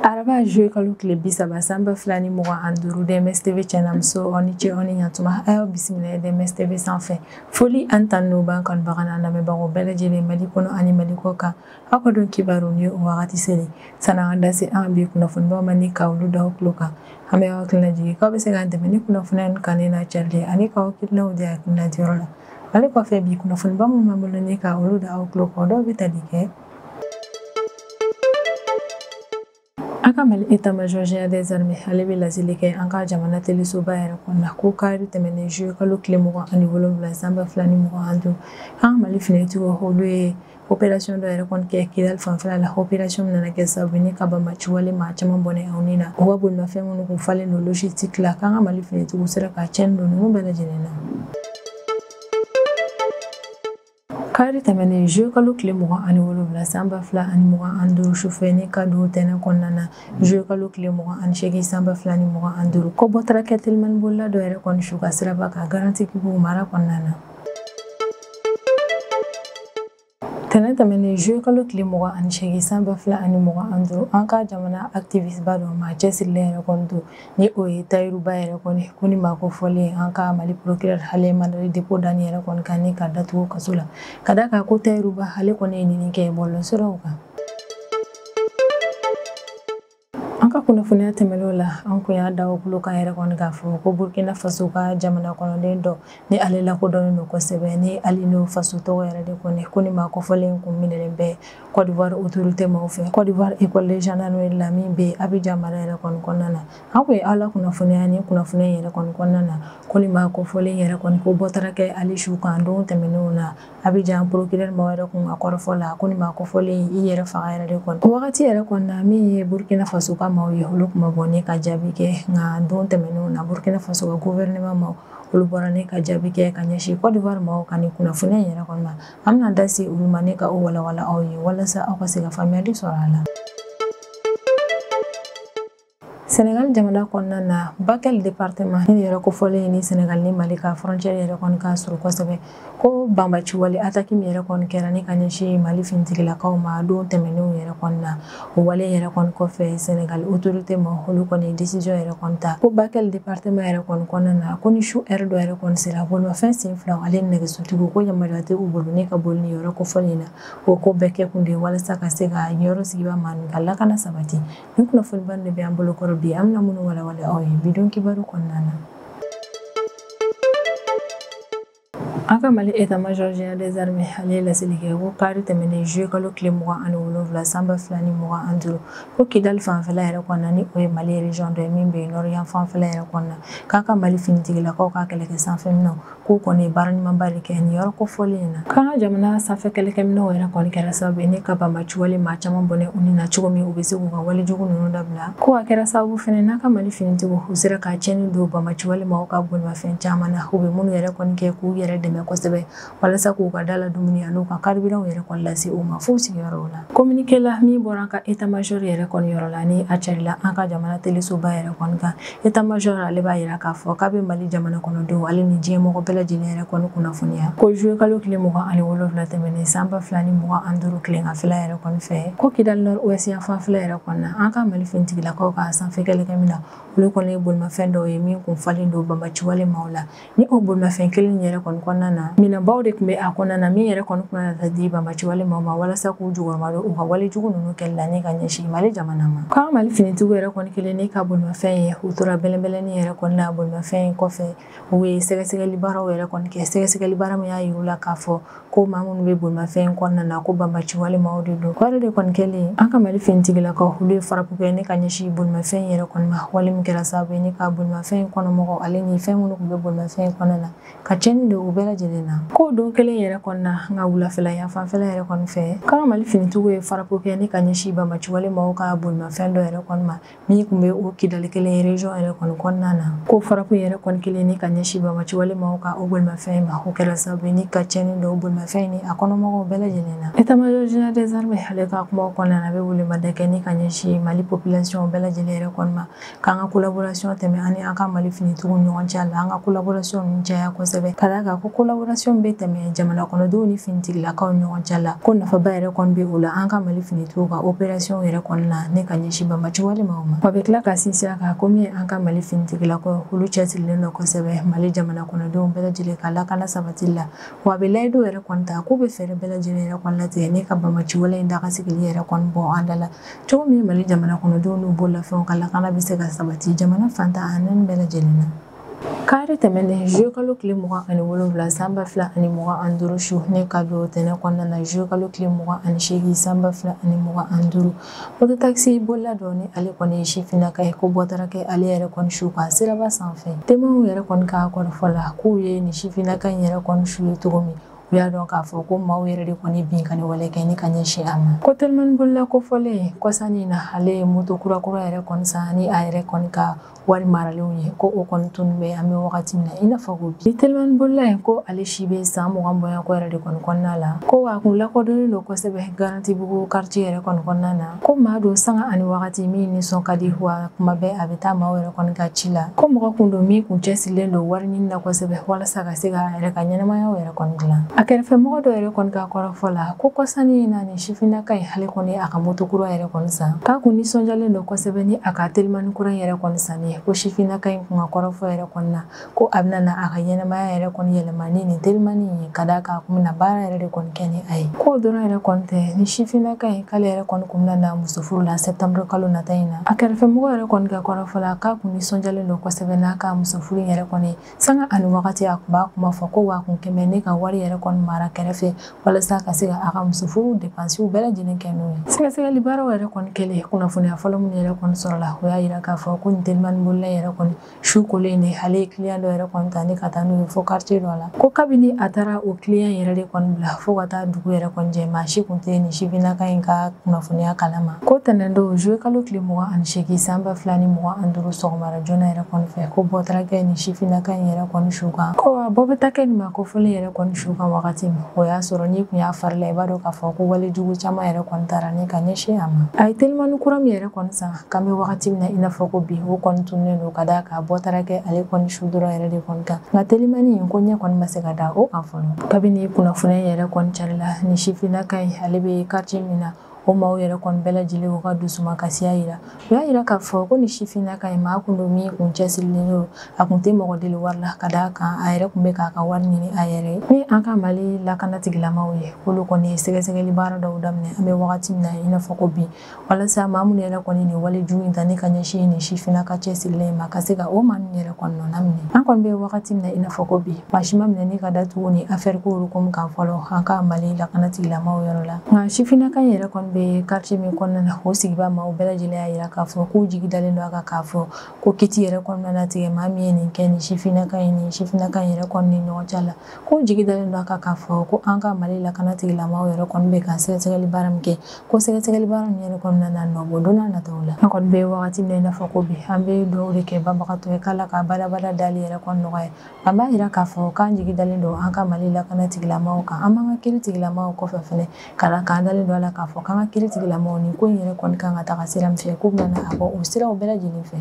araba juye kalo tile bi saba san ba fila ni mugan ani duuru dms tv cɛnamuso aw ni ce aw ni ɲatuma a y'aw bisimila dms tv sanfɛ foli ani tanu b'an kanubaga n'an lamɛnbagaw bɛɛ lajɛlen mali kɔnɔ ani mali kɔkan aw ka don kibaru ni o wagati selen san'an ka da se an bi kunnafonibaw ma ni ka olu da aw tulo kan an bɛ aw hakilina jigin k'aw bɛ se k'an dɛmɛ ni kunnafoniya ni kannen n'a carili ani k'aw hakilinaw di a hakilina diyɔrɔ la Ale kɔfɛ bi kunnafoniba minnu b'an bolo ni ka olu da aw tulo kan dɔw bɛ tali kɛ an ka mali état-major général des armées ale bɛ laseli kɛ an ka jamana telesoba yɛrɛ kɔnɔna ko kari tɛmɛnen juye kalo tile mugan ani wolonwula san ba fila ni mugan ani duuru an ka mali finitigiw olu ye Opération dɔ yɛrɛ kɔni kɛ Kidali fanfɛla la opération min nana kɛ sababu ye ni ka banbaci wale maa caman bɔnɛ u ni na u ka bolimafɛn minnu kun falen don logistique la k'an ka Mali finitigiw sera ka cɛnni don ninnu bɛɛ lajɛlen na. Kari tɛmɛnen juye kalo tile mugan ani wolonwula san ba fila ani mugan ani duuru sufɛ ni ka don tɛnɛ kɔnɔna na juye kalo tile mugan ani seegin san ba fila ni mugan ani duuru ko bɔtara kɛ telimani bolila dɔ yɛrɛ kɔni su kan siraba kan Garantigibugu mara kɔnɔna na tɛnɛ tɛmɛnen juye kalo tile mugan ani seegin san ba fila ani mugan ani duuru an ka jamana activiste ba dɔ maa cɛsirilen yɛrɛ kɔni don ni o ye tayiru ba yɛrɛ kɔni ko ni maa kofɔlen an ka mali procureur ale mandat de dépôt da ni yɛrɛ kɔni kan ni ka datugu kaso la ka da kan ko tayiru ba ale kɔni ye nenini kɛ bɔlɔsiraw kan an ka kunnafoniya tɛmɛnenw la an kun y'a da aw tulo kan yɛrɛ kɔni k'a fɔ ko burkina faso ka jamana kɔnɔden dɔ ni ale lakodɔnnen don kosɛbɛ ni alino faso tɔgɔ yɛrɛ de kɔni ko ni maa kofɔlen kun minɛlen bɛ kɔdiwari otorite maaw fɛ kɔdiwari école de gendarmerie la min bɛ abijan mara yɛrɛ kɔni kɔnɔna na an kun ye aw la kunnafoniya ni kunnafoniya yɛrɛ kɔni kɔnɔna na ko ni maa kofɔlen yɛrɛ kɔni ko bɔtara kɛ ale su kan don tɛmɛnenw na abijan procureur mɔgɔ yɛrɛ kɔni ka kɔrɔfɔ la ko nin maa kofɔlen i yɛrɛ faga yɛrɛ de kɔni o wagati yɛrɛ kɔni na min ye burukina faso ka maaw ye olu kun ma bɔ ni ka jaabi kɛ nka don tɛmɛnenw na burukina faso ka gofɛrɛnɛma maaw olu bɔra ni ka jaabi kɛ ka ɲɛsin kɔdiwari maaw ka nin kunnafoniya yɛrɛ kɔni ma an bɛna da se olu ma ni ka o walawala aw ye walasa aw ka se ka faamuyali sɔrɔ a la Senegal jamana kɔnɔna na Bakel département ni yɔrɔ kofɔlen ni Senegal ni Mali ka frontière yɛrɛ kɔni ka surun kosɛbɛ ko banbaci wale attaque min yɛrɛ kɔni kɛra ni ka ɲɛsin Mali finitigilakaw ma don tɛmɛnenw yɛrɛ kɔni na o wale yɛrɛ kɔni kɔfɛ Senegal autorité maaw olu kɔni décision yɛrɛ kɔni ta ko Bakel département yɛrɛ kɔni kɔnɔna na ko ni su heure dɔ yɛrɛ kɔni sera bolimafɛn sen fila hali nɛgɛsotigiw ko yamaruya tɛ u bolo ni ka boli ni yɔrɔ kofɔlen na o ko bɛɛ kɛ kun de walasa ka se ka yɔrɔ sigibaa maaw ka lakana sabati Nin kunnafoniba de bɛ an bolo kɔrɔ bi an bɛna minnu walawala aw ye bidon kibaru kɔnɔna na. An ka Mali état major général des armées ale ye laseli kɛ ko kari tɛmɛnen juillet kalo tile mugan ani wolonwula san ba fila ni mugan ani duuru ko Kidali fanfɛla yɛrɛ kɔnɔna ni o ye Mali région dɔ ye min bɛ nord yan fanfɛla yɛrɛ kɔnɔna k'an ka Mali finitigilakaw ka kɛlɛkɛ sanfɛminɛnw k'u kɔni ye baara ɲumanba de kɛ nin yɔrɔ kofɔlen in na k'an ka jamana sanfɛ kɛlɛkɛminɛnw yɛrɛ kɔni kɛra sababu ye ni ka banbaci wale maa caman bɔnɛ u ni na cogo min u bɛ se k'u ka wale jugu ninnu dabila ko a kɛra sababu fɛnɛ n'an ka mali finitigiw u sera ka cɛnni don banbaci wale maaw ka bolimafɛn caman na u bɛ minnu yɛrɛ kɔni kɛ k'u yɛrɛ dɛmɛ kosɛbɛ walasa k'u ka da la dumuni an'u ka carburantw yɛrɛ kɔni lase u ma f'u sigiyɔrɔw la communiqué la min bɔra an ka état major yɛrɛ kɔni yɔrɔ la ni a carila an ka jamana telesoba yɛrɛ kɔni kan état major ale b'a yira k'a fɔ k'a bɛ mali jamana kɔnɔdenw ale ni diɲɛ mɔgɔ bɛɛ lajɛlen yɛrɛ kɔni kunnafoniya ko juillet kalo tile mugan ani wolonwula tɛmɛnen san ba fila ni mugan ani duuru tileganfɛla yɛrɛ kɔni fɛ ko kidali nord ouest yan fanfɛla yɛrɛ kɔni na an ka mali finitigilakaw ka sanfɛ kɛlɛkɛminɛnw olu kɔni ye bolimafɛn dɔw ye min kun falen don banbaci wale maaw la ni o bolimafɛn kelen yɛrɛ kɔni kɔnɔna na minɛnbaw de tun bɛ a kɔnɔna na min yɛrɛ kɔni tun na taa di banbaci wale maaw ma walasa k'u jukɔrɔmadon u ka wale jugu ninnu kɛli la ni ka ɲɛsin mali jamana ma k'an mali finitigiw yɛrɛ kɔni kɛlen ni ka bolimafɛn ye u tora bɛlɛnbɛlɛni yɛrɛ kɔni na bolimafɛn in kɔfɛ u ye sɛgɛsɛgɛli baaraw yɛrɛ kɔni kɛ sɛgɛsɛgɛli baara min y'a yir'u la k'a fɔ ko maa minnu bɛ bolimafɛn in kɔnɔna na ko banbaci wale maaw de don o yɛrɛ de kɔni kɛlen an ka mali finitigilakaw olu ye farapu kɛ ni ka ɲɛsin bolimafɛn yɛrɛ kɔni ma wale min kɛra sababu ye ni ka bolimafɛn in kɔnɔmɔgɔw ale ni fɛn minnu tun bɛ bolimafɛn in kɔnɔna na ka cɛnni don u bɛɛ lajɛlen na ko don kelen yɛrɛ kɔni na an ka wulafɛla yan fanfɛla yɛrɛ kɔni fɛ k'an ka mali finitigiw ye farapu kɛ ni ka ɲɛsin banbaci wale maaw ka bolimafɛn dɔ yɛrɛ kɔni ma min tun bɛ o kidali kelen région yɛrɛ kɔni kɔnɔna na ko farapu yɛrɛ kɔni kɛlen ni ka ɲɛsin banbaci wale maaw ka o bolimafɛn ma o kɛra sababu ye ni ka cɛnni don o bolimafɛn ni a kɔnɔmɔgɔw bɛɛ lajɛlen na état major général des armées ale ka kumaw kɔnɔna na a bɛ welemada kɛ ni ka ɲɛsin mali population bɛɛ lajɛlen yɛrɛ kɔni ma k'an ka collaboration tɛmɛ ani an ka mali finitigiw ni ɲɔgɔn cɛ la an ka collaboration ninnu caya kosɛbɛ ka d'a kan ko collaboration bɛ tɛmɛ jamana kɔnɔdenw ni finitigilakaw ɲɔgɔn cɛ la ko nafaba yɛrɛ kɔni bɛ o la an ka mali finitigiw ka opération yɛrɛ kɔni na ni ka ɲɛsin banbaci wale maaw ma wa a bɛ tila ka sinsin a kan komi an ka mali finitigilakaw olu cɛsirilen don kosɛbɛ mali jamana kɔnɔdenw bɛɛ lajɛlen ka lakana sabatili la wa a bɛ layidu yɛrɛ kɔni ta k'u bɛ fɛɛrɛ bɛɛ lajɛlen yɛrɛ kɔni latigɛ ni ka banbaci wale in daga sigilen yɛrɛ kɔni bɔ an da la cogo min mali jamana kɔnɔdenw n'u bololafɛnw ka lakana bɛ se ka sabati jamana fan tan ni naani bɛɛ lajɛlen na kari tɛmɛnen zuye kalo tile mugan ani wolonwula san ba fila ani mugan an duuru su ni ka don tɛnɛ kɔnɔna na zuye kalo tile mugan ani seegin san ba fila ani mugan an duuru mototakisi bolila dɔ ni ale kɔni ye sifinnaka ye ko bɔ taara kɛ ale yɛrɛ kɔni su kan siraba sanfɛ temuɛnw yɛrɛ kɔni ka kɔrɔfɔ la k'u ye ni sifinnaka in yɛrɛ kɔni su ye cogo min u y'a dɔn k'a fɔ ko maaw yɛrɛ de kɔni bin ka nin wale kɛ ni ka ɲɛsin a ma ko telimani bolila kofɔlen kɔsani na ale ye moto kurakura yɛrɛ kɔni san ni a yɛrɛ kɔni ka wari maralenw ye ko o kɔni tun bɛ an bɛ wagati min na i n'a fɔ ko bi telimani bolila in ko ale si bɛ san mugan bɔɲɔgɔnko yɛrɛ de kɔni kɔnɔna la ko wa a kun lakodɔnnen don kosɛbɛ garantibugu karitiye yɛrɛ kɔni kɔnɔna na ko maa don sanga ani wagati min nisɔn ka di wa kuma bɛɛ a bɛ taa maaw yɛrɛ kɔni ka ci la ko mɔgɔ kun don min kun cɛsirilen don wari ɲini na kosɛbɛ walasa ka se ka a yɛrɛ ka ɲɛnɛmayaw yɛrɛ kɔni dilan a kɛrɛfɛmɔgɔ dɔ yɛrɛ kɔni ka kɔrɔfɔ la ko kɔsani in na Sifinnaka in hali kɔni a ka moto kura yɛrɛ kɔni san k'a kun nisɔndiyalen don kosɛbɛ ni a ka telimani kura yɛrɛ kɔni san ye ko sifinnaka in kun ka kɔrɔfɔ yɛrɛ kɔni na ko a bɛna na a ka ɲɛnɛmaya yɛrɛ kɔni yɛlɛma ni nin telimani ye ka d'a kan a kun bɛna baara yɛrɛ de kɔni kɛ ni a ye k'o dɔrɔn yɛrɛ kɔni tɛ ni sifinnaka in k'ale yɛrɛ kɔni kun bɛna na muso furu la septembre kalo nata in na a kɛrɛfɛmɔgɔ yɛrɛ kɔni ka kɔrɔfɔ la k'a kun nisɔndiyalen don kosɛbɛ n'a ka muso furu yɛrɛ kɔni sanga ani wagati a kun b'a kuma fɔ ko wa a kun kɛmɛ ne ka wari yɛrɛ kɔni mara kɛrɛfɛ walasa ka se ka a ka musofuru depansiw bɛɛ lajɛlen kɛ n'o ye sɛgɛsɛgɛli baaraw yɛrɛ kɔni kɛlen kunnafoniya fɔlɔ minnu yɛrɛ kɔni sɔrɔla o y'a yira k'a fɔ ko nin telimani bolila yɛrɛ kɔni su kolen de ale ye kiliyan dɔ yɛrɛ kɔni ta ni ka taa n'o ye fo karitiye dɔ la ko kabini a taara o kiliyan yɛrɛ de kɔni bila fo ka taa dugu yɛrɛ kɔni jɛ maa si kun tɛ nin sifinnaka in ka kunnafoniya kalama ko tɛnɛndon zuye kalo tile mugan ani seegin san ba fila ni mugan an duuru sɔgɔmara joona yɛrɛ kɔni fɛ ko bɔ taara kɛ nin sifinnaka in yɛrɛ kɔni su kan ko wa bɔ bɛ taa kɛ nin maa kofɔlen yɛrɛ kɔni su kan wagati min o y'a sɔrɔ n'i kun y'a fari la i b'a dɔn k'a fɔ ko wale jugu caman yɛrɛ kɔni taara ni ka ɲɛsin a ma a ye telimani kura min yɛrɛ kɔni san k'an bɛ wagati min na i n'a fɔ ko bi o kɔni tunnen don ka d'a kan bɔ taara kɛ ale kɔni su dɔrɔn yɛrɛ de kɔni kan nka telimani in ko ɲɛ kɔni ma se ka da o kan fɔlɔ kabini kunnafoniya yɛrɛ kɔni carila nin sifinnaka in ale bɛ karitiye min na o maaw yɛrɛ kɔni bɛɛ lajɛlen u ka dusuma kasiya yira u y'a yira k'a fɔ ko ni sifinnaka in maa kun don min kun cɛsirilen don a kun tɛ mɔgɔ deli wari la ka d'a kan a yɛrɛ kun bɛ k'a ka wari ɲini a yɛrɛ ye ni an ka mali lakana tigilamaw ye k'olu kɔni ye sɛgɛsɛgɛli baara dɔw daminɛ an bɛ wagati min na i n'a fɔ ko bi walasa maa minnu yɛrɛ kɔni nin wale jugu in ta ni ka ɲɛsin nin sifinnaka cɛsirilen ma ka se ka o maa ninnu yɛrɛ kɔni nɔ minɛ an kɔni bɛ wagati min na i n'a fɔ ko bi maa si ma minɛ ni ka datugu ni afɛriko olu komi kan fɔlɔ an ka mali lakana tigilamaw yɔrɔ la nka sifinnaka in yɛrɛ kɔni bɛ quartier min kɔnɔna na o sigibaa maaw bɛɛ lajɛlen y'a yira k'a fɔ k'u jigi dalen don a kan k'a fɔ ko kiti yɛrɛ kɔni na tigɛ maa min ye nin kɛ nin sifinnaka in nin sifinnaka in yɛrɛ kɔni ni ɲɔgɔn cɛ la k'u jigi dalen don a kan k'a fɔ ko an ka mali lakana tigilamaaw yɛrɛ kɔni bɛ ka sɛgɛsɛgɛli baara min kɛ ko sɛgɛsɛgɛli baara min yɛrɛ kɔni na nɔ bɔ don n'a nataw la an kɔni bɛ wagati min na i n'a fɔ ko bi an bɛ dugawu de kɛ banbagatɔ ye k'ala ka badabada dali yɛrɛ kɔni nɔgɔya An b'a yira k'a fɔ k'an jigi dalen don an ka Mali lakana tigilamaw kan, an b'an ka kiri tigilamaw kɔfɛ fɛnɛ, k'an dalen don a la k'a fɔ k'an ka kiri tigilamaw nin ko in yɛrɛ kɔni kan ka taga sira min fɛ, k'u bɛna a bɔ o siraw bɛɛ lajɛlen fɛ.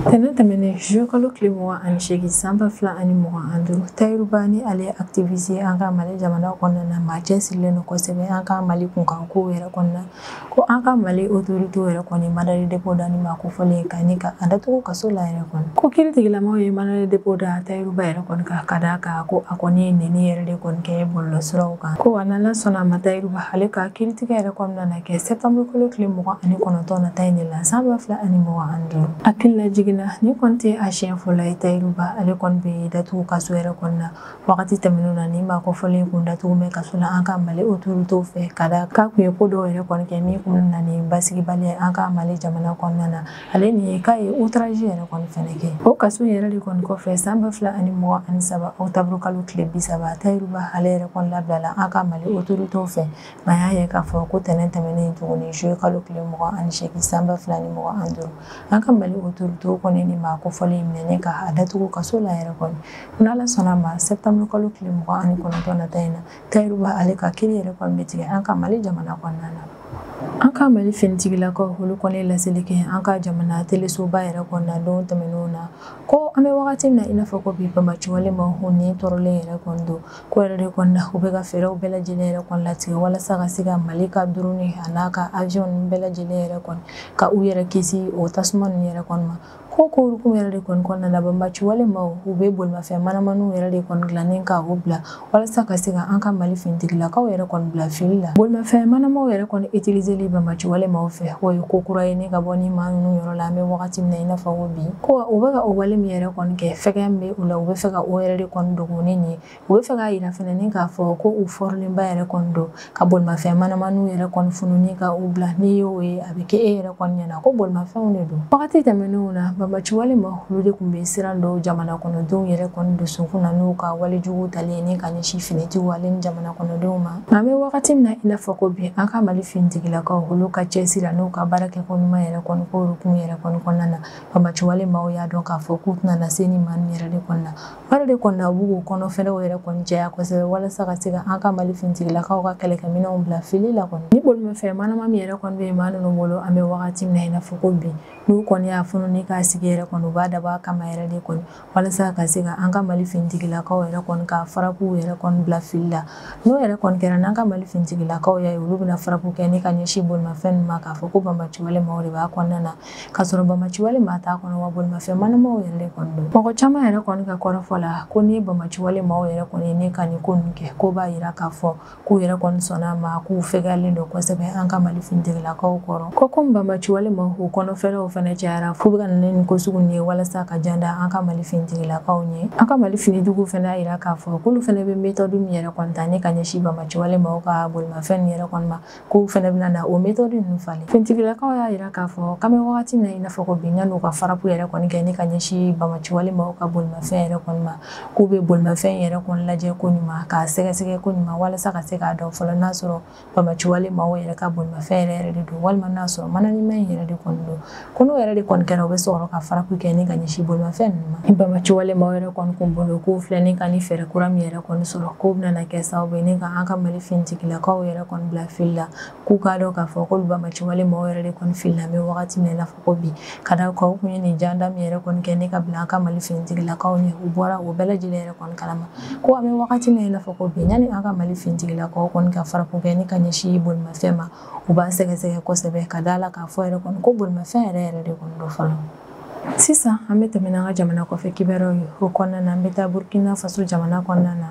Tɛnɛn tɛmɛnen juillet kalo tile mugan ani seegin san ba fila ani mugan ani duuru, Tayiru Ba nin ale ye activiste ye an ka Mali jamana kɔnɔna na, maa cɛsirilen don kosɛbɛ an ka Mali kunkankow yɛrɛ kɔnɔna ko an ka mali otorite yɛrɛ kɔni mandat de dépôt da nin maa kofɔlen kan ni ka a datugu kaso la yɛrɛ kɔni ko kiri tigilamaw ye mandat de dépôt da tayiru ba yɛrɛ kɔni kan ka d'a kan ko a kɔni ye neni yɛrɛ de kɔni kɛ bɔlɔlɔsiraw kan ko wa n'ala sɔnna ma tayiru ba ale ka kiritigɛ yɛrɛ kɔni na kɛ sɛtanburu kalo tile mugan ani kɔnɔntɔn nata in de la san ba fila ani mugan ani duuru hakili lajigin na nin kɔni tɛ a siɲɛ fɔlɔ ye tayiru ba ale kɔni bɛ datugu kaso yɛrɛ kɔnɔna wagati tɛmɛnenw na nin maa kofɔlen kun datugulen kaso la an ka mali otoritew fɛ ka d'a kan a tun ye ko dɔw yɛrɛ kɔni kɛ min kun na ni basigibaliya an ka mali jamana kɔnɔna na ale nin ye k'a ye outrage yɛrɛ kɔni fɛnɛ kɛ o kaso yɛrɛ de kɔni kɔfɛ san ba fila ani mugan ani saba octobre kalo tile bi saba tayiru ba ale yɛrɛ kɔni labilala an ka mali otoritew fɛ nka y'a ye k'a fɔ ko tɛnɛn tɛmɛnen tuguni juillet kalo tile mugan ani seegin san ba fila ni mugan ani duuru an ka mali otorite kɔni nin maa kofɔlen in minɛ ni ka a datugu kaso la yɛrɛ kɔni n'ala sɔnna ma sɛtanburu kalo tile mugan ani kɔnɔntɔn nata in na tayiru ba ale ka kiri yɛrɛ kɔni bɛ tigɛ an ka mali jamana kɔnɔna na an ka mali finitigilakaw olu kɔni laseli kɛ an ka jamana telesoba yɛrɛ kɔnɔna don tɛmɛnenw na ko an bɛ wagati min na i n'a fɔ ko bi banbaanci walemaw ninnu tɔɔrɔlen yɛrɛ kɔni don k'o yɛrɛ de kɔni na u bɛ ka fɛɛrɛw bɛɛ lajɛlen yɛrɛ kɔni latigɛ walasa ka se ka mali ka drone a n'a ka avion ninnu bɛɛ lajɛlen yɛrɛ kɔni ka u yɛrɛ kisi o tasuma ninnu yɛrɛ kɔni ma ko k'o hukumu yɛrɛ de kɔni kɔnɔna na banbaanci walemaw u bɛ bolimafɛn manamaniw yɛrɛ de kɔni dilan ni ka u bila walasa ka se ka an ka mali finitigilakaw yɛrɛ kɔni bila fili la bolimafɛn manamaw yɛrɛ kɔni utiliseli banbaanci walemaw fɛ o ye ko kura ye ni ka bɔ ni maa ninnu yɔrɔ la an bɛ wagati min na i n'a fɔ ko bi ko u bɛ ka o wale min yɛrɛ kɔni kɛ fɛgɛya min bɛ u la u bɛ fɛ ka o yɛrɛ de kɔni dogo ani nin ye u bɛ fɛ k'a yira fɛnɛ ni k'a fɔ ko u fɔrilenba yɛrɛ kɔni don ka bolimafɛn manamaniw yɛrɛ kɔni funu ni ka u bila n'i y'o ye a bɛ kɛ e yɛrɛ kɔni ɲɛna ko bolimafɛnw de don wagati tɛmɛnenw na banbaanci walemaw olu de tun bɛ siran don jamana kɔnɔdenw yɛrɛ kɔni dusukun na n'u ka walejugu talen ye ni ka ɲɛsin finitigiw ale ni jamana kɔnɔdenw ma an bɛ wagati min na i n'a fɔ ko bi an ka mali finitigilakaw olu ka cɛsiri n'u ka baarakɛko ɲuman yɛrɛ kɔni k'o hukumu yɛrɛ kɔni kɔnɔna na banbaciwale maaw y'a dɔn k'a fɔ k'u tɛna na se ni maa yɛrɛ de kɔni na o yɛrɛ de kɔnɔna u b'u kɔnɔ fɛɛrɛw yɛrɛ kɔni caya kosɛbɛ walasa ka se ka an ka mali finitigilakaw ka kɛlɛkɛminɛnw bila fili la kɔni ni bolimafɛn manama min yɛrɛ kɔni bɛ maa ninnu bolo an bɛ wagati min na i n'a fɔ ko bi n'u kɔni y'a funu ni k'a sigi yɛrɛ kɔni u b'a dabɔ a kama yɛrɛ de kɔni walasa ka se ka an ka mali finitigilakaw yɛrɛ kɔni ka farapuw yɛrɛ kɔni bila fili la n'o yɛrɛ kɔni kɛra n'an ka mali finitigilakaw y'a ye olu bɛna farapu kɛ ni ka ɲɛsin bolimafɛn ninnu ma k'a fɔ ko banbaciwale maaw de b'a kɔnɔna na k'a sɔrɔ banbaciwale maa t'a kɔnɔ wa bolimafɛn manamaw yɛrɛ de kɔni don mɔgɔ caman yɛrɛ kɔni ka kɔrɔfɔ la ko ni banbaciwale maaw yɛrɛ kɔni ye ni ka nin ko ninnu kɛ k'o b'a yira k'a fɔ k'u yɛrɛ kɔni sɔnna a ma k'u fɛgɛyalen don kosɛbɛ an ka mali finitigilakaw kɔrɔ ko komi banbaciwale maaw kɔnɔ fɛɛrɛw fɛnɛ cayara f'u bɛ ka na ni nin ko sugu ye walasa ka jan da an ka mali finitigilakaw ɲɛ an ka mali finitigiw fɛnɛ y'a yira k'a fɔ k'olu fɛnɛ bɛ metɔdu min yɛrɛ kɔni ta ni ka ɲɛsin banbaciwale maaw ka bolimafɛn nin yɛrɛ kɔni ma k'u fɛnɛ bɛna na o metɔdu ninnu falen finitigilakaw y'a yira k'a fɔ k'an bɛ wagati min na i n'a fɔ ko bi yann'u ka farapu yɛrɛ kɔni kɛ ni ka ɲɛsin banbaciwale maaw ka bolimafɛn yɛrɛ kɔni ma k'u bɛ bolimafɛn yɛrɛ kɔni lajɛ ko ɲuman k'a sɛgɛsɛgɛ ko ɲuman walasa ka se k'a dɔn fɔlɔ n'a sɔrɔ banbaciwale maaw yɛrɛ ka bolimafɛn yɛrɛ yɛrɛ de don walima n'a sɔrɔ mananama in yɛrɛ de kɔni don ko n'o yɛrɛ de kɔni kɛra u bɛ sɔrɔ ka farapu kɛ ni ka ɲɛsin bolimafɛn ninnu ma banbaciwale maaw yɛrɛ kɔni kun bolo k'u filɛ ni ka ni fɛɛrɛ kura min yɛrɛ kɔni sɔrɔ k'o bɛna kɛ sababu ye ni ka an ka mali finitigilakaw yɛrɛ kɔni bila fili la k'u k'a dɔn k'a fɔ k'olu banbaciwale maaw yɛrɛ de kɔni filila an bɛ wagati min na ko bi ka d'a kan k'u ye nin janda min yɛrɛ kɔni kɛ ni ka bila an ka mali finitigilakaw ɲɛ u bɔra o bɛɛ lajɛlen yɛrɛ kɔni kalama ko an bɛ wagati min na i n'a fɔ ko bi yanni an ka mali finitigilakaw kɔni ka farapu kɛ ni ka ɲɛsin bolimafɛn ma u b'a sɛgɛsɛgɛ kosɛbɛ ka da la k'a fɔ yɛrɛ kɔni ko bolimafɛn yɛrɛ yɛrɛ de kɔni don fɔlɔ sisan an bɛ tɛmɛ n'an ka jamana kɔfɛ kibaruyaw ye o kɔnɔna na an bɛ taa burkina faso jamana kɔnɔna na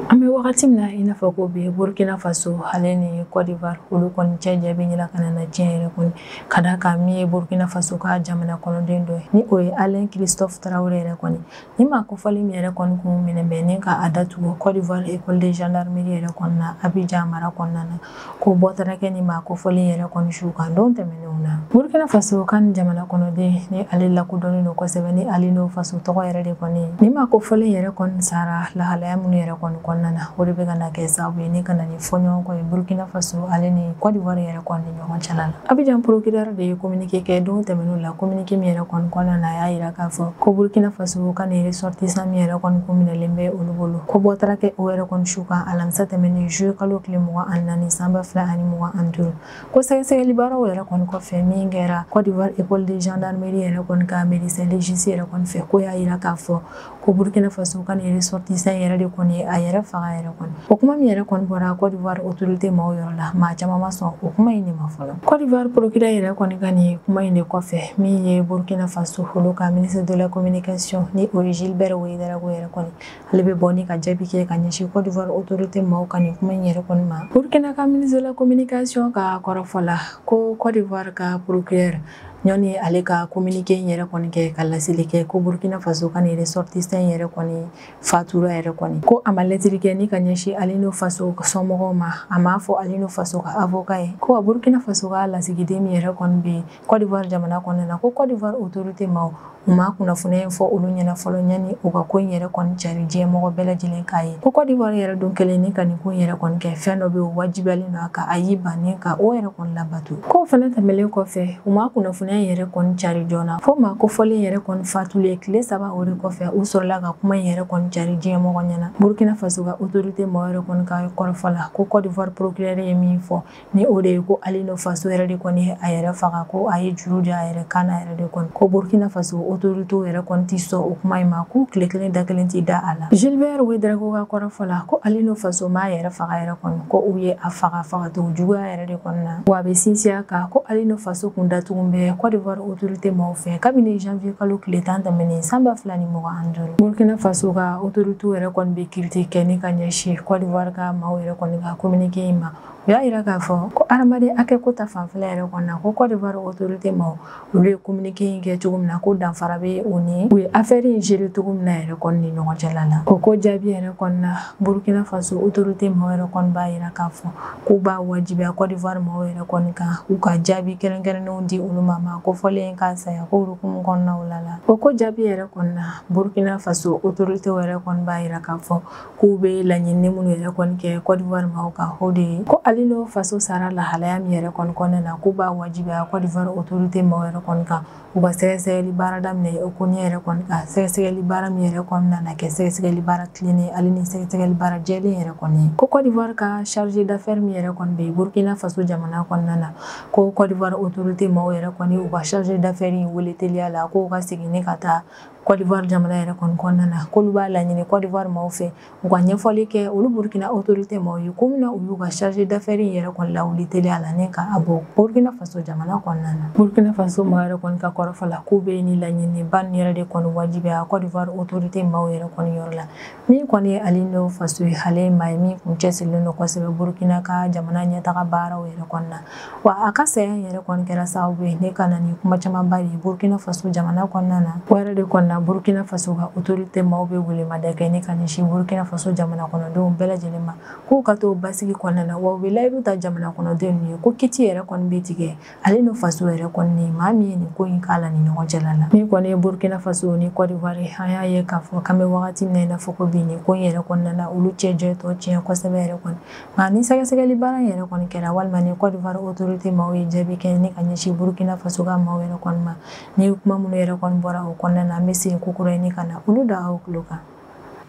an bɛ wagati min na i n'a fɔ ko bi burkina faso ale ni côte d'ivoire olu kɔni cɛ jɛ bɛ ɲinina ka na na tiɲɛ yɛrɛ kɔni ka d'a kan min ye burkina faso ka jamana kɔnɔden dɔ ye ni o ye alain christophe traoré yɛrɛ kɔni nin maa kofɔlen min yɛrɛ kɔni kun minɛnen bɛ ni ka a datugu côte d'ivoire école de gendarmerie yɛrɛ kɔnɔna abijan mara kɔnɔna na ko bɔ taara kɛ ni maa kofɔlen yɛrɛ kɔni su kan don tɛmɛnenw na burkina faso ka nin jamana kɔnɔden ni ale lakodɔnnen don kosɛbɛ ni alino faso tɔgɔ yɛrɛ de kɔni ni maa kofɔlen yɛrɛ kɔni sara lahalaya minnu yɛrɛ kɔni kɔnɔna na o de bɛ ka na kɛ sababu ye ni ka na ni fɔɲɔgɔnkɔ ye burkina faso ale ni kɔdiwari yɛrɛ kɔni ni ɲɔgɔn cɛla la abijan procureur de ye kominike kɛ don tɛmɛnenw la Kominike min yɛrɛ kɔni kɔnɔna na a y'a yira k'a fɔ ko burkina faso ka nin ressortissant min yɛrɛ kɔni kun minɛlen bɛ olu bolo ko bɔ taara kɛ o yɛrɛ kɔni su kan alamisa tɛmɛnen juillet kalo tile mugan ani naani san ba fila ani mugan ani duuru ko sɛgɛsɛgɛli baaraw yɛrɛ kɔni kɔfɛ min kɛra Côte d'Ivoire école de gendarmerie yɛrɛ kɔni ka médecin légiste yɛrɛ kɔni fɛ k'o y'a yira k'a fɔ ko burkina faso ka nin ressortissant yɛrɛ de kɔni ye a yɛrɛ faga yɛrɛ kɔni o kuma min yɛrɛ kɔni bɔra cote d'ivoire autorité maaw yɔrɔ la maa caman ma sɔn o kuma in de ma fɔlɔ cote d'ivoire procureur yɛrɛ kɔni ka nin kuma in de kɔfɛ min ye burkina faso olu ka ministre de la communication ni o ye gilbert ouédraogo yɛrɛ kɔni ale bɛ bɔ ni ka jaabi kɛ ka ɲɛsin cote d'ivoire autorité maaw ka nin kuma in yɛrɛ kɔni ma burkina ka ministre de la communication ka kɔrɔfɔ la ko cote d'ivoire ka procureur ɲɔni ale ka communiqué in yɛrɛ kɔni kɛ ka laseli kɛ ko burkina faso ka nin ressortissant in yɛrɛ kɔni fatura yɛrɛ kɔni ko a ma lɛtiri kɛ ni ka ɲɛsin alino faso somɔgɔw ma a m'a fɔ alino faso ka avocat ye ko wa burkina faso ka lasigiden min yɛrɛ kɔni bɛ côte d'ivoire jamana kɔnɔna na ko côte d'ivoire autorité maw U ma kunnafoniya in fɔ olu ɲɛna fɔlɔ ɲani u ka ko in yɛrɛ kɔni cari diɲɛ mɔgɔ bɛɛ lajɛlen k'a ye ko Côte d'Ivoire yɛrɛ don kelen ni ka nin ko yɛrɛ kɔni kɛ fɛn dɔ bɛ o wajibiyalen don a kan a y'i ban ni ka o yɛrɛ kɔni labato ko fana tɛmɛlen kɔfɛ u ma kunnafoniya in yɛrɛ kɔni cari joona fo maa kofɔlen yɛrɛ kɔni fatulen tile saba o de kɔfɛ u sɔrɔla ka kuma in yɛrɛ kɔni cari diɲɛ mɔgɔ ɲɛna burkina faso ka autorité maaw yɛrɛ kɔni ka kɔrɔfɔ la ko Côte d'Ivoire procureur ye min fɔ ni o de ye ko alino faso yɛrɛ de kɔni ye a yɛrɛ faga ko a ye juru don a yɛrɛ kan na yɛrɛ de kɔni ko burkina faso autorité yɛrɛ kɔni tɛ sɔn o kuma in ma ko tile kelen da kelen tɛ da a la gilbert ouédraogo ka kɔrɔfɔ la ko alino faso m'a yɛrɛ faga yɛrɛ kɔni ko u ye a faga fagacogo juguya yɛrɛ de kɔni na wa a bɛ sinsin a kan ko alino faso kun datugulen bɛ côte d'ivoire autorité maaw fɛ kabini janvier kalo tile tan tɛmɛnen san ba fila ni mugan ni duuru burkina faso ka autorité yɛrɛ kɔni bɛ critique kɛ ni ka ɲɛsin côte d'ivoire ka maaw yɛrɛ kɔni ka communiqué in ma u y'a yira k'a fɔ ko adamaden hakɛ ko ta fanfɛla yɛrɛ kɔni na ko Côte d'Ivoire autorité maaw olu ye communiqué in kɛ cogo min na ko danfara bɛ o ni u ye affaire in gérer cogo min na yɛrɛ kɔni ni ɲɔgɔn cɛla la o ko jaabi yɛrɛ kɔni na Burkina Faso autorité maaw yɛrɛ kɔni b'a yira k'a fɔ k'u b'a wajibiya Côte d'Ivoire maaw yɛrɛ kɔni kan u ka jaabi kɛrɛnkɛrɛnnenw di olu ma maa kofɔlen ka saya ko hukumu kɔnɔna la la o ko jaabi yɛrɛ kɔni na Burkina Faso autorité yɛrɛ kɔni b'a yira k'a fɔ k'u bɛ laɲini minnu yɛrɛ kɔni kɛ Côte d'Ivoire maaw kan o de ye ko Alino Faso sara lahalaya min yɛrɛ kɔni kɔnɔna na k'u b'a wajibiya Côte d'Ivoire autorité maaw yɛrɛ kɔni kan u ka sɛgɛsɛgɛli baara daminɛ o ko in yɛrɛ kɔni kan sɛgɛsɛgɛli baara min yɛrɛ kɔni nana kɛ sɛgɛsɛgɛli baara tilennen ani sɛgɛsɛgɛli baara jɛlen yɛrɛ kɔni ye ko Côte d'Ivoire ka chargé d'affaires min yɛrɛ kɔni bɛ Burkina Faso jamana kɔnɔna na ko Côte d'Ivoire autorité maaw yɛrɛ kɔni u ka chargé d'affaires in wele teliya la k'o ka segin ni ka taa Côte d'Ivoire jamana yɛrɛ kɔni kɔnɔna na k'olu b'a laɲini Côte d'Ivoire maaw fɛ u ka ɲɛfɔli kɛ olu Burkina autorité maaw ye ko min na u y'u ka chargé d'affaires in yɛrɛ kɔni lawuli teliya la ni k'a bɔ Burkina faso jamana kɔnɔna na Burkina faso maaw yɛrɛ kɔni ka kɔrɔfɔ la k'u bɛ nin laɲini ba yɛrɛ de kɔni wajibiya Côte d'Ivoire autorité maaw yɛrɛ kɔni yɔrɔ la min kɔni ye alino faso ye ale maa ye min kun cɛsirilen don kosɛbɛ burukina ka jamana ɲɛtaga baaraw yɛrɛ kɔni na wa a ka saya in yɛrɛ kɔni kɛra sababu ye ni ka na ni kuma camanba de ye burukina faso jamana kɔnɔna na o yɛrɛ de kɔni na burukina faso ka autorité maaw bɛ welemada kɛ ni ka ɲɛsin burukina faso jamana kɔnɔdenw bɛɛ lajɛlen ma k'u ka to basigi kɔnɔna na wa u bɛ layidu ta jamana kɔnɔdenw ye ko kiti yɛrɛ kɔni bɛ tigɛ alino faso yɛrɛ kɔni ye maa min ye nin ko in k'a la ni ɲɔgɔn cɛla la min kɔni ye burkina faso ni côte d'ivoire an y'a ye k'a fɔ k'an bɛ wagati min na i n'a fɔ ko bi nin ko in yɛrɛ kɔnɔna na olu cɛ jɛ tɔ tiɲɛ kosɛbɛ yɛrɛ kɔni nka ni sɛgɛsɛgɛli baara in yɛrɛ kɔni kɛra walima ni côte d'ivoire autorité maaw ye jaabi kɛ ni ka ɲɛsin burkina faso ka maaw yɛrɛ kɔni ma ni kuma minnu yɛrɛ kɔni bɔra o kɔnɔna na an bɛ segin kokura ni ka na olu da aw tulo kan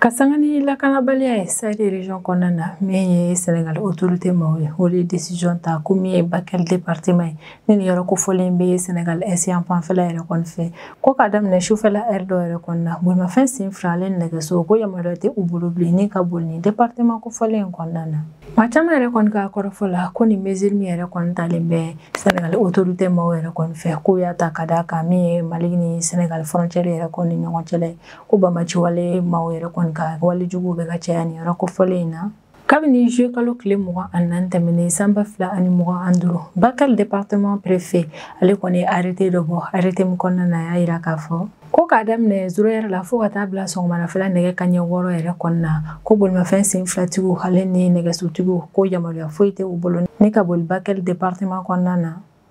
ka sanga ni lakanabaliya ye sahel région kɔnɔna na min ye senegal autorité maaw ye o de décision ta ko min ye bakɛl département ye ni nin yɔrɔ kofɔlen bɛ senegal est yan fanfɛla yɛrɛ kɔni fɛ ko ka daminɛ sufɛla heure dɔ yɛrɛ kɔni na bolimafɛn sen fila ale ni nɛgɛso ko yamaruya tɛ u bolo bilen ni ka boli nin département kofɔlen in kɔnɔna na maa caman yɛrɛ kɔni ka kɔrɔfɔ la ko nin mesure min yɛrɛ kɔni talen bɛ senegal autorité maaw yɛrɛ kɔni fɛ k'u y'a ta ka d'a kan min ye mali ni senegal frontière yɛrɛ kɔni ni ɲɔgɔn cɛla ye ko banbaciwale maaw yɛrɛ kɔni ka wale juguw bɛ ka caya nin yɔrɔ kofɔlen in na kabini juillet kalo tile mugan ani naani tɛmɛnen san ba fila ani mugan ani duuru bakɛl département préfet ale kɔni ye arrêté dɔ bɔ arrêté min kɔnɔna na y'a yira k'a fɔ ko k'a daminɛ zéro heure la fɔɔ ka taa bila sɔgɔmadafɛla nɛgɛ kanɲɛ wɔɔrɔ yɛrɛ kɔnɔna ko bolimafɛn sen filatigiw ale ni nɛgɛsotigiw ko yamaruya foyi tɛ u bolo ni ka boli bakɛl département kɔnɔna na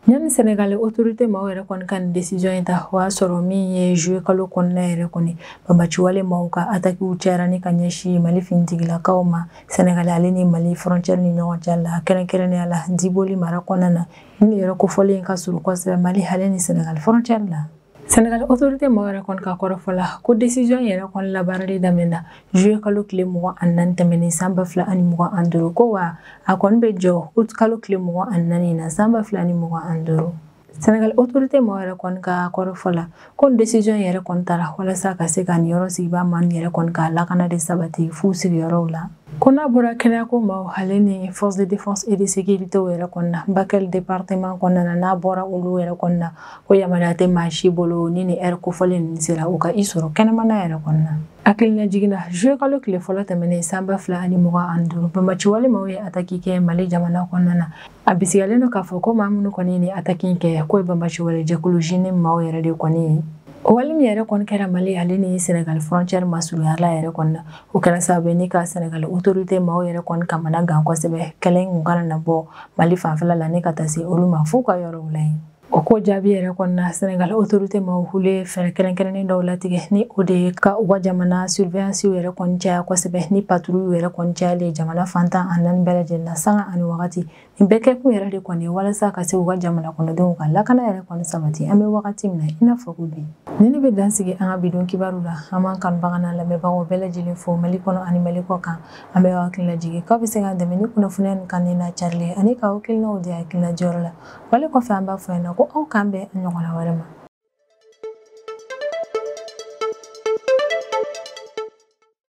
Yanni Senegal autorité maaw yɛrɛ kɔni ka nin décision in ta o y'a sɔrɔ min ye juillet kalo kɔnɔna yɛrɛ kɔni banbaciwale maaw ka atakiw cayara ni ka ɲɛsin Mali finitigilakaw ma Senegal ale ni Mali frontière ni ɲɔgɔn cɛ la kɛrɛnkɛrɛnnenya la Diboli mara kɔnɔna na nin yɔrɔ kofɔlen in ka surun kosɛbɛ Mali ale ni Senegal frontière la Senegal autorité maaw yɛrɛ kɔni ka kɔrɔfɔ la ko décision yɛrɛ kɔni labaarali daminɛna juillet kalo tile mugan ani naani tɛmɛnen san ba fila ani mugan ani duuru ko wa a kɔni bɛ jɔ août kalo tile mugan ani naani na san ba fila ani mugan ani duuru Senegal autorité maaw yɛrɛ kɔni ka kɔrɔfɔ la ko nin décision yɛrɛ kɔni tara walasa ka se ka nin yɔrɔ sigibaa maa nin yɛrɛ kɔni ka lakana de sabati f'u sigiyɔrɔw la ko n'a bɔra kɛnɛyako maaw ale ni force de défense et de sécurité yɛrɛ kɔni na bakɛl département kɔnɔna n'a bɔra olu yɛrɛ kɔni na ko yamaruya tɛ maa si bolo ni nin heure kofɔlen ninnu sera u ka i sɔrɔ kɛnɛmana yɛrɛ kɔni na hakilinajigin na juillet kalo tile fɔlɔ tɛmɛnen san ba fila ani mugan ani duuru banbaciwale maaw ye ataki kɛ mali jamana kɔnɔna na a bisigilen don k'a fɔ ko maa minnu kɔni ye nin ataki kɛ k'o ye banbaciwale jɛkulu JNIM maaw yɛrɛ de kɔni ye o wale min yɛrɛ kɔni kɛra mali ale ni senegali frontière masurunyala yɛrɛ kɔni na o kɛra sababu ye ni ka sɛnɛgali otorite maaw yɛrɛ kɔni kamana gan kosɛbɛ kɛlɛ in kun kana na bɔ mali fanfɛla la ni ka taa se olu ma f'u ka yɔrɔw la yen o ko jaabi yɛrɛ kɔnɔna sɛnɛgali otorite maaw olu ye fɛɛrɛ kɛrɛnkɛrɛnnen dɔw latigɛ ni o de ye ka u ka jamana surveyansiw yɛrɛ kɔni caya kosɛbɛ ni paturu yɛrɛ kɔni cayalen jamana fan tan ni naani bɛɛ lajɛlen na sanga ani wagati Nin bɛɛ kɛkun yɛrɛ de kɔni walasa ka se u ka jamana kɔnɔdenw ka lakana yɛrɛ kɔni sabati an bɛ wagati min na i n'a fɔ ko bi ni ne bɛ dansigi an ka bidon kibaru la an b'an kanubaga n'an lamɛnbagaw bɛɛ lajɛlen fo mali kɔnɔ ani mali kɔ kan an bɛ hakili lajigin k'aw bɛ se k'an dɛmɛ ni kunnafoniya nin kanu n'a carili ani ka hakilinaw di hakilina jɔyɔrɔ la wale kɔfɛ an b'a fɔ yan na ko aw k'an bɛn ɲɔgɔnna wɛrɛ ma